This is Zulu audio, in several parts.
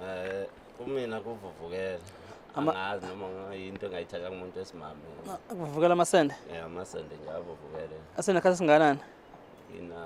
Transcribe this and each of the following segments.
Eh kumina kuvuvukela. Angazi noma ngayinto engayithatha kumuntu esimame. Kuvuvukela amasende? Yeah, amasende nje avuvukele. Asena khathi singanani? Ina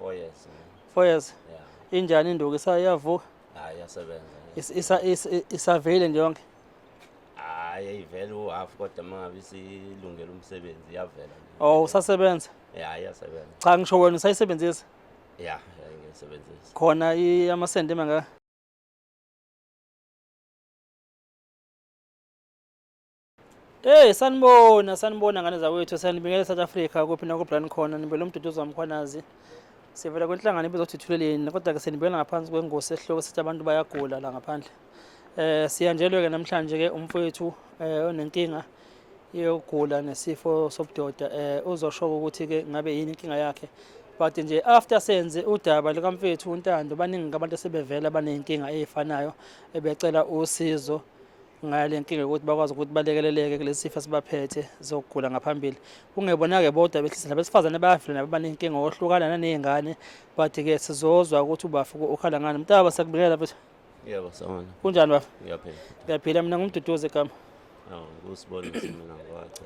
4 years. 4 years. Yeah. Injani induku isayavuka? Hayi yasebenza. Isa isavele nje yonke. Hayi ayivele u half kodwa mangabe isilungela umsebenzi iyavela. Oh usasebenza? Yeah, iyasebenza. Cha ngisho wena usayisebenzisa? ya ngisebenzisa khona amasenti emangaka Hey sanibona sanibona ngane zakwethu sanibingelela South Africa kuphi na kubran khona nibele umduduzo wamkhwanazi sivela kwenhlangano ebizothuthuleleni kodwa ke senibingelela ngaphansi kwengosi esihloko sithi abantu bayagula la ngaphandle Eh siyanjelwe ke namhlanje ke umfowethu eh onenkinga yokugula nesifo sobudoda eh uzosho ukuthi ke ngabe yini inkinga yakhe but nje after senze udaba likamfethu uNtando baningi abantu asebevela banenkinga ezifanayo ebecela usizo ngale nkinga ukuthi bakwazi ukuthi balekeleleke kulesi sifo sibaphethe zokugula ngaphambili kungebona-ke bodwa behlisa nabesifazane bayafila nabo banenkinga ohlukana naney'ngane but-ke sizozwa ukuthi ubafuko ukhala ngani mntaba sakubingelela futhi Yebo sawona. Kunjani bafo? Ngiyaphila. Ngiyaphila mina ngumduduzi egama. Awu kusibona mina ngwacha.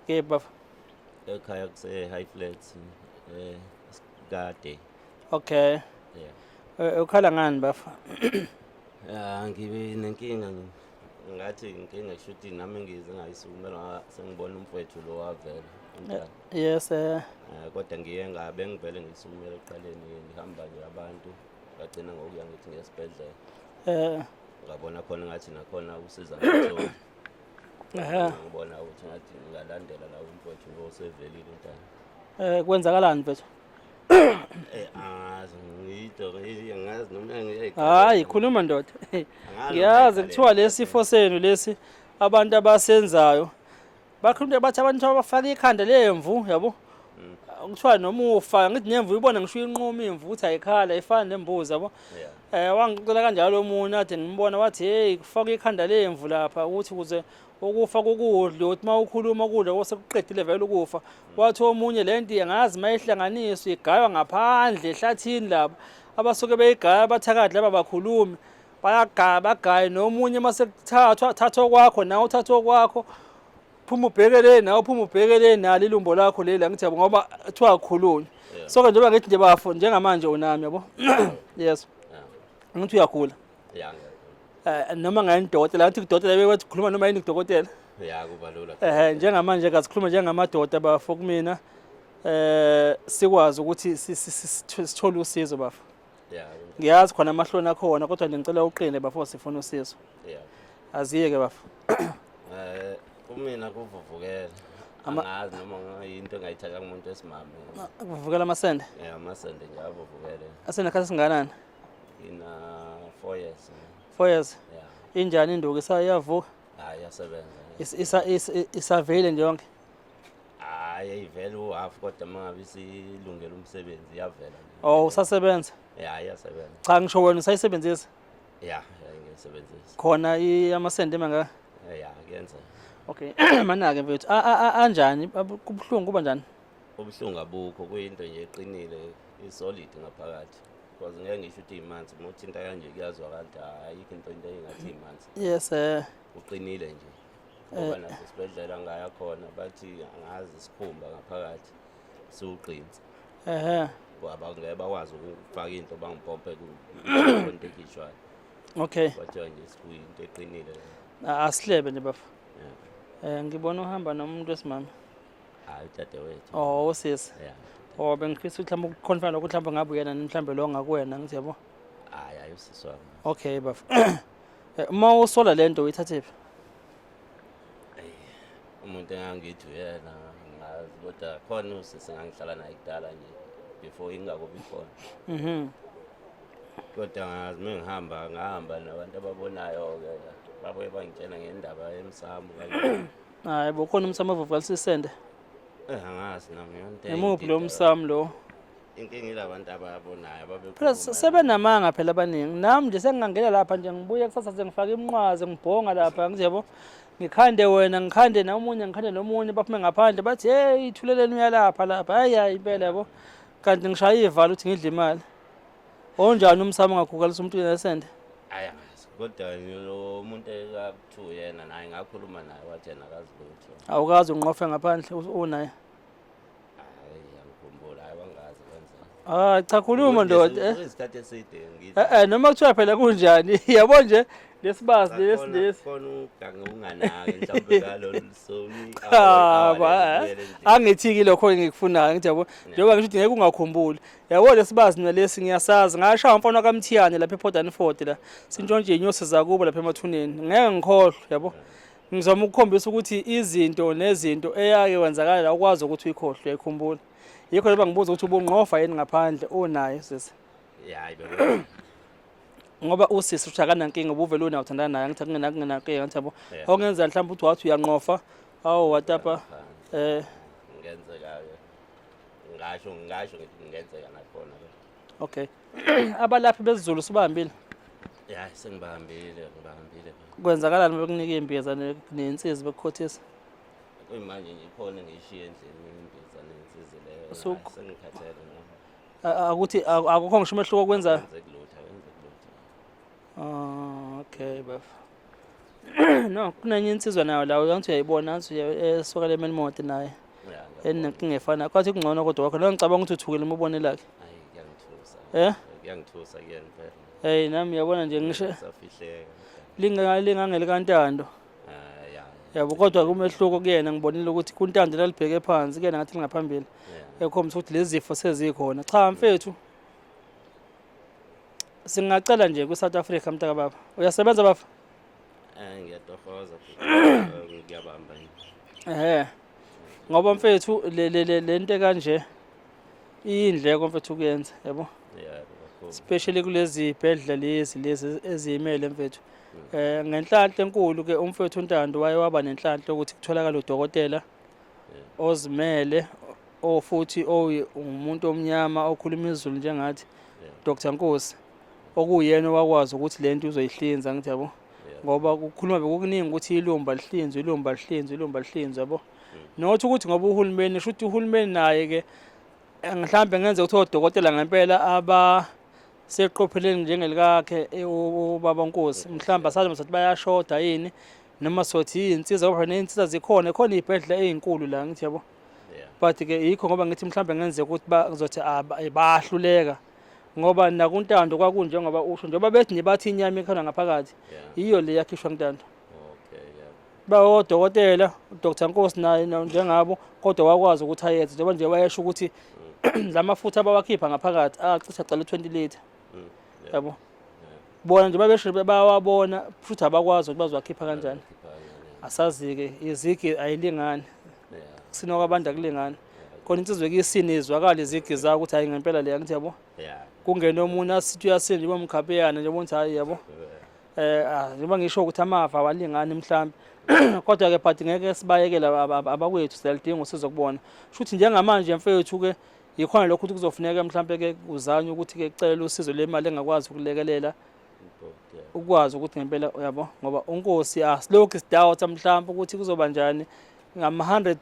Ke bafo. Ekhaya kuse high flats eh kade. Okay. Yeah. Eh, eh, ukhala ngani bafo? Ah ngibe nenkinga ngathi inkinga shuthi nami ngize ngayisukumela sengibona umfowethu lo wavela. Eh, yes eh. Kodwa ngiye ngabe ngivele ngisukumela eqaleni ngihamba nje abantu. ngagcina ngokuya ngithi ngesibhedlela eh ngabona khona ngathi nakhona usiza ngitholi ehe ngibona ukuthi ngathi ngalandela la umfowethu lo sevelile umntana eh kwenzakalani mfethu eh angazi ngiyito ngiyazi noma ngiyayikhala hayi khuluma ndoda ngiyazi kuthiwa lesifo senu lesi abantu abasenzayo bakhulumile bathi abantu abafaka ikhanda lemvu yabo kuthiwa noma ufa ngithi nemvu ibona ngisho inquma imvu ukuthi ayikhala ifana nembuzi yabo eh wangicela kanjalo omunye athi ngimbona wathi hey kufaka ikhanda lemvu lapha ukuthi kuze ukufa kokudla uthi uma ukhuluma ukudla osekuqedile vele ukufa wathi omunye le nto angazi uma ihlanganiswa igaywa ngaphandle ehlathini laba abasuke beyigaya abathakathi laba bakhulumi bayagaya bagaye nomunye uma sekuthathwa thathwa kwakho nawe uthathwa kwakho phuma ubheke le nawe phuma ubheke le nalo ilumbo lakho leli angithi yabo ngoba kuthiwa akhulunywe so ke njengoba ngithi nje bafo njengamanje unami yabo yes angithi uyagula eh, noma ngayini dokotela ngathi kudokotela bekwethu khuluma noma yini kudokotela ya kuba lula eh njengamanje kasikhuluma njengamadoda bafo kumina eh sikwazi ukuthi sithole usizo bafo ngiyazi khona amahloni akhona kodwa nje ngicela uqine bafo sifuna usizo aziye ke bafo eh kumina kuvuvukela angazi noma yinto engayithatha kumuntu esimame kuvuvukela amasende yeah amasende nje avuvukele asende khathi singanani ina 4 years 4 years yeah injani induku isayavuka hayi yasebenza isavele nje yonke hayi ayivele uhalf kodwa uma ngabe isilungele umsebenzi iyavela nje. Oh usasebenza? ya iyasebenza Cha ngisho wena usayisebenzisa ya ya ngiyisebenzisa khona i- amasende mangaka? ya kuyenza Okay manake mfethu a- a- a- anjani Abu- kubuhlungu kuba njani? ubuhlungu abukho kuyinto nje eqinile isolid ngaphakathi because ngeke ngisho ukuthi imanzi uma uthinta kanje kuyazwakala ukuthi ayikho into into engathi imanzi Yes eh uqinile nje ngoba nasesibhedlela ngaya khona bathi angazi isikhumba ngaphakathi siwugqinsi ehe abangeke bakwazi ukufaka into bangipompe kwento ekhishwayo okay kwathiwa nje sikuyinto eqinile asihlebe nje bafo um ngibona uhamba nomuntu wesimama hayi udadewethu oh usisi oh bengifisa ukuthi mhlawumbe ukukhonfana lokuthi mhlawumbe ngabe uyena mhlawumbe lo ngakuwena ngithi yabo hayi ayi usisi wami okay bafo Eh, uma usola lento uyithathephi umuntu engangithi uyena ngazi kodwa khona usisi ngangihlala naye kudala nje before ingakubi khona mhm kodwa ngazi uma ngihamba ngahamba nabantu ababonayo-ke babuye bangitshena ngendaba yemsamo kanye hayi bo khona umsamo ovuvukalisisende eh angazi nami yonto imuphi lo msamo lo inkinga ilabantu ababonayo ababekhuluma sebenamanga phela abaningi nami nje sengingangena lapha nje ngibuye kusasa sengifaka iminqwazi ngibhonga lapha ngizebo ngikhande wena ngikhande nomunye ngikhande nomunye baphume ngaphandle bathi hey ithuleleni uyalapha lapha hayi hayi impela yabo kanti ngishaya ivalo ukuthi ngidle imali onjani umsamo ngakhukalisa umuntu nesende aya kodwa lo muntu ekuthiwa yena naye ngakhuluma naye wathi yena akazi lutho awukazi unqofe ngaphandle unaye Ah cha khuluma ndoda. Eh. Isikhathi eside ngithi. Eh, eh noma kuthiwa phela kunjani? Yabo nje lesibazi lesi lesi. Khona ugange unganaki mhlawumbe ngalolu soni. Cha ba. Eh. Angithiki lokho engikufunayo ngithi yabo. Njengoba ngisho ukuthi ngeke ungakhumbuli. Yabo lesibazi mina lesi ngiyasazi. Ngashaya umfana kaMthiyane lapha ePortland Ford la. Sintshontshe inyosi zakubo lapha emathuneni. Ngeke ngikhohlwe yabo. Ngizama ukukhombisa ukuthi izinto nezinto eyake wenzakala ukwazi ukuthi uyikhohlwe uyikhumbula. Yikho leba ngibuza ukuthi ubungqofa yini ngaphandle unayo sisi. Hayi bebe. Ngoba usisi ushakana nkinga ubuvele unayo uthandana naye ngithi kungena kungena ke ngathi yabo. Ongenza mhlawumbe uthi wathi uyanqofa. Awu watapa eh ngenzeka ke. Ngasho ngasho ngenzeka nakhona ke. Okay. Abalaphi bezizulu sibambile. Yeah, sengibambile, ngibambile. Kwenzakalani bekunika imbiza nensizi bekukhothisa? Kuyimanje nje ikhona ngishiye endlini imbiza nensizi leyo. Sengikhathele ngoba. Akuthi akukho ngisho umehluko kwenza. Kwenza kulutha, kwenza kulutha. Ah, okay, bafo. no kunenye insizwa nayo la uyangithi uyayibona angithi esokala emeni mode naye enenkinga efana kwathi kungcono kodwa wakho lo ngicabanga ukuthi uthukile uma ubone lakhe eh kuyangithusa kuyena phela hey nami yabona nje ngisho safihleka lingangeli kantando yabo kodwa kumehluko kuyena ngibonile ukuthi kuntando lalibheke phansi kuyena ngathi lingaphambili ekhombisa ukuthi lezi zifo sezikhona cha mfethu singacela nje kwi-south africa mntaka baba uyasebenza baba Eh ngiyatohoza ngiyabamba yini. ehe ngoba mfethu le- le- le- le nto ekanje iyindleko mfethu kuyenza yabo Yeah, kakhulu. especially kulezi bhedla lezi lezi eziyimele mfethu um ngenhlanhla enkulu-ke umfethu untando waye waba nenhlanhla ukuthi kutholakale udokotela ozimele o futhi ongumuntu omnyama okhuluma izulu njengathi Dr Nkosi okuyena wakwazi ukuthi lento uzoyihlinza ngithi yabo ngoba kukhuluma bekukuningi ukuthi ilumba lihlinzwe ilumba lihlinzwe ilumba lihlinzwe yabo nothi ukuthi ngoba uhulumeni shuthi uhulumeni naye ke mhlambe ngenze ukuthi odokotela ngempela aba seqopheleni njengelikakhe e, ubaba Nkosi mhlawumbe asazi ukuthi bayashoda yini noma sothi yinsiza ngoba neyinsiza zikhona khona iy'bhedlela ey'nkulu la ngithi yabo but ke yikho ngoba ngithi mhlawumbe ngenzeka ukuthi bazothi ah, eh, bayahluleka ngoba nakuntando kwakunje ngoba usho njengoba bethi nibathi inyama ekhona ngaphakathi yiyo le yakhishwa kuntando bayodokotela uDr Nkosi naye njengabo kodwa wakwazi ukuthi ayenze njengoba nje wayesho ukuthi mm. la mafutha abawakhipha ngaphakathi acisha cala 20 liter mm. yabo bona nje babesho bayawabona futhi abakwazi ukuthi bazowakhipha kanjani asazike izigi ayilingani kusina kwabantu akulingani khona insizwe kuyisini izwakala izigi zayo ukuthi hayi ngempela leya ngithi yabo kungena omunye asithi uyasinda njengoba mkhapeyana njengoba ngithi hayi yabo eh ah, njengoba ngisho ukuthi amava awalingani mhlawumbe kodwa ke but ngeke sibayekele abakwethu siyalidinga usizo kubona shuthi njengamanje mfethu ke yikhona lokho ukuthi kuzofuneka mhlawumbe ke uzanye ukuthi ke cela usizo lemali engakwazi ukulekelela ukwazi ukuthi ngempela uyabo ngoba unkosi asilokhu sidoubt mhlawumbe ukuthi kuzoba njani ngama 100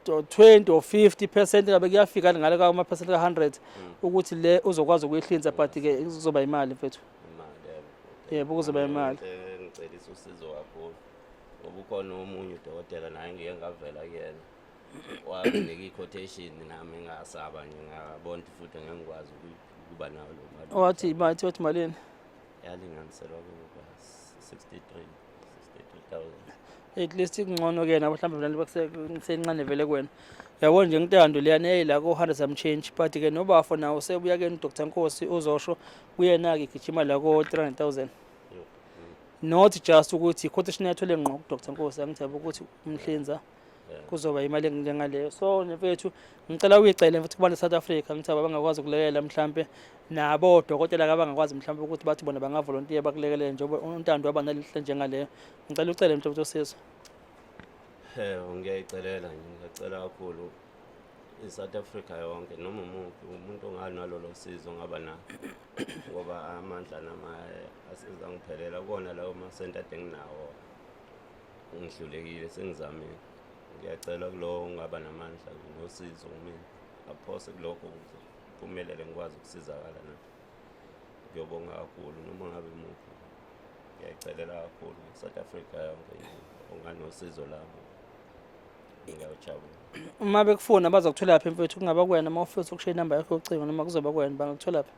to 20 or 50 percent ngabe kuyafika ngale ka percent ka 100 mm. ukuthi le uzokwazi ukuyihlinza but ke kuzoba imali mfethu yebo kuzoba imali ngicelisa usizo kakhulu ngoba ukhona omunye udokotela naye ngike ngavela kuyena wanginika i-quotation nami ngasaba nje ngabona futhi ngengikwazi ukuba nayo lo mali wathi wathi malini yalinganiselwa kuba 63 at least kungcono ke nabo mhlawumbe vele bakusencane vele kwena yabo nje ngintando leyana eyayila ko-hundred some change but ke nobafo nawo sebuya ke nodr nkosi uzosho kuyena-ke gijima la ko-three hundred thousand not just ukuthi quotation yathole ngqo kudr nkosi angithaba ukuthi umhlinza kuzoba imali enjengaleyo so mfethu ngicela uyicele futhi kubantu South Africa ngithi abangakwazi ukulekelela mhlambe nabo odokotela abangakwazi mhlambe ukuthi bathi bona bangavolontiya bakulekelele njengoba untando waba nalihle njengaleyo ngicela ucele mfethu usizo eh ngiyayicelela ngiyacela kakhulu i-South Africa yonke noma umuntu umuntu onganalolo sizo ngaba na ngoba amandla nama asizangiphelela kona lawo masenta denginawo ngihlulekile sengizamile ngiyacela kulowo ungaba namandla nosizo kumina aphose kulokho ukuze kuphumelele ngikwazi ukusizakala na ngiyobonga kakhulu noma ngabe muphi ngiyayicelela kakhulu south africa yonke onganosizo labo uma bekufuna bazokuthola phi mfethu kungaba kuwena uma ufisa ukushiya inamba yakho yocingo noma kuzoba kuwena bangakuthola phi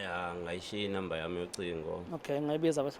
ya ngayishiya inamba yami yocingo okay ngayibiza bathi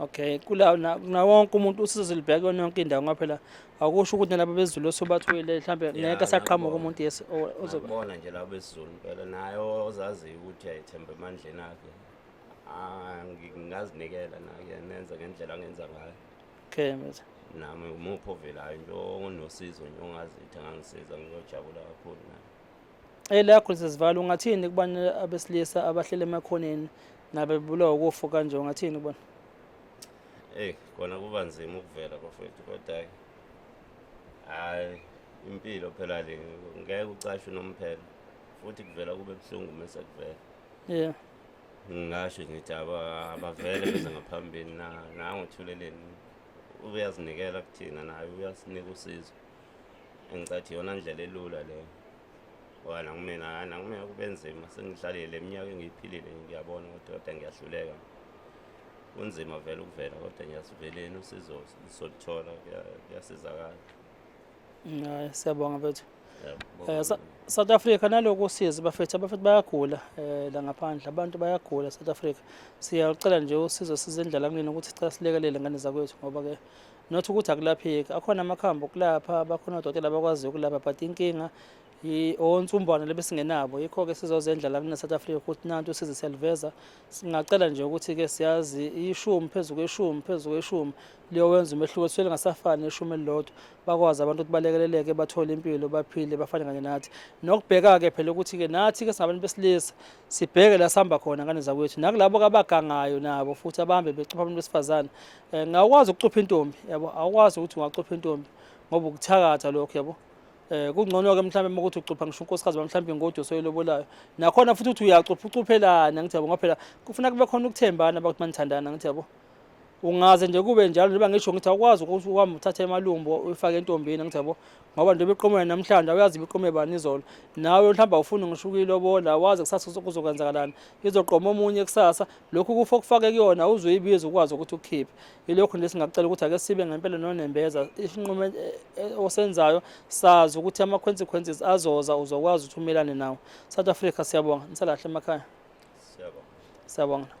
Okay, kula na wonke umuntu usizo libheke yonke indawo ngoba phela akusho ukuthi nalabo bezulu osobathwele mhlambe ngeke asaqhamuka umuntu yes ozoba. Bona nje labo bezulu phela naye ozaziyo ukuthi ayethemba emandleni akhe. Ah, ngingazinikela naye nenza ngendlela angenza ngayo. Okay, mfethu. nami umuphi ovelayo nje onosizo nje ongazithi angangisiza ngiyojabula kakhulu naye Ela Khulisizivala ungathini kubantu abesilisa abahlele emakhoneni nabebulawa ukufa kanje ungathini kubona? Hey kona kuba nzima ukuvela bafethu kodwa hayi impilo phela le ngeke ucashe nomphela futhi kuvela kube buhlungu mase kuvela. Yeah. Ngingasho ngithi abavele beze ngaphambili na nangothuleleni uyazinikela kuthina naye uyasinika usizo. engicathi yona ndlela elula leyo ngoba nakumina hhayi nakumina kube nzima sengidlalile le minyaka engiyiphilile ngiyabona ukuthi kodwa ngiyahluleka kunzima vele ukuvela kodwa ngiyasiveleni usizo soluthola kuyasizakala hayi siyabonga bethu um south africa naloku usizi bafethu abafethu bayagula um la ngaphandle abantu bayagula south africa siyalucela nje usizo sizendlala kunini ukuthi sicela silekelele ngane zakwethu ngoba-ke not ukuthi akulapheki akhona amakhambi okulapha bakhona odokotela abakwaziyo ukulapha but inkinga onsumbwana lebesingenabo yikho-ke sizozendla la kune south africa ukuthi nanti usize siyaliveza singacela nje ukuthi-ke siyazi ishumi phezu kweshumi phezu kweshumi liyowenza umehluko sisuke lingasafani neshumi elilodwa bakwazi abantu ukuthi balekeleleke bathole impilo baphile bafane kanye nathi nokubheka-ke phela ukuthi-ke nathi-ke singabantu besilisa sibheke la sihamba khona ngane zakwethu nakulabo kabagangayo nabo futhi abahambe becupha abantu besifazane Eh, ngawukwazi ukucupha intombi yabo awukwazi ukuthi ungacupha intombi ngoba ukuthakatha lokho yabo eh kungcono ke mhlawumbe uma ukuthi ucupha ngisho unkosikazi bamhlawumbe ingodo soyilobolayo nakhona futhi uthi uyacupha ucuphelana ngithi yabo ngaphela kufuna kube khona ukuthembana bakuthi manithandana ngithi yabo ungaze nje kube njalo njengoba ngisho ngithi awukwazi ukuthi uhambe uthathe emalumbo uyifake entombini ngithi yabo ngoba njengoba iqomela namhlanje awuyazi ibiqome bani izolo nawe mhlawumbe awufuni ngisho ukuyilobola wazi kusasa kuzokwenzakalani izoqoma omunye kusasa lokhu kufa okufake kuyona uzoyibiza ukwazi ukuthi ukukhiphe yilokhu nje singacela ukuthi ake sibe ngempela nonembeza isinqumo eh, eh, osenzayo sazi ukuthi ama-consequences azoza uzokwazi ukuthi umelane nawo south africa siyabonga nisalahle emakhaya siyabonga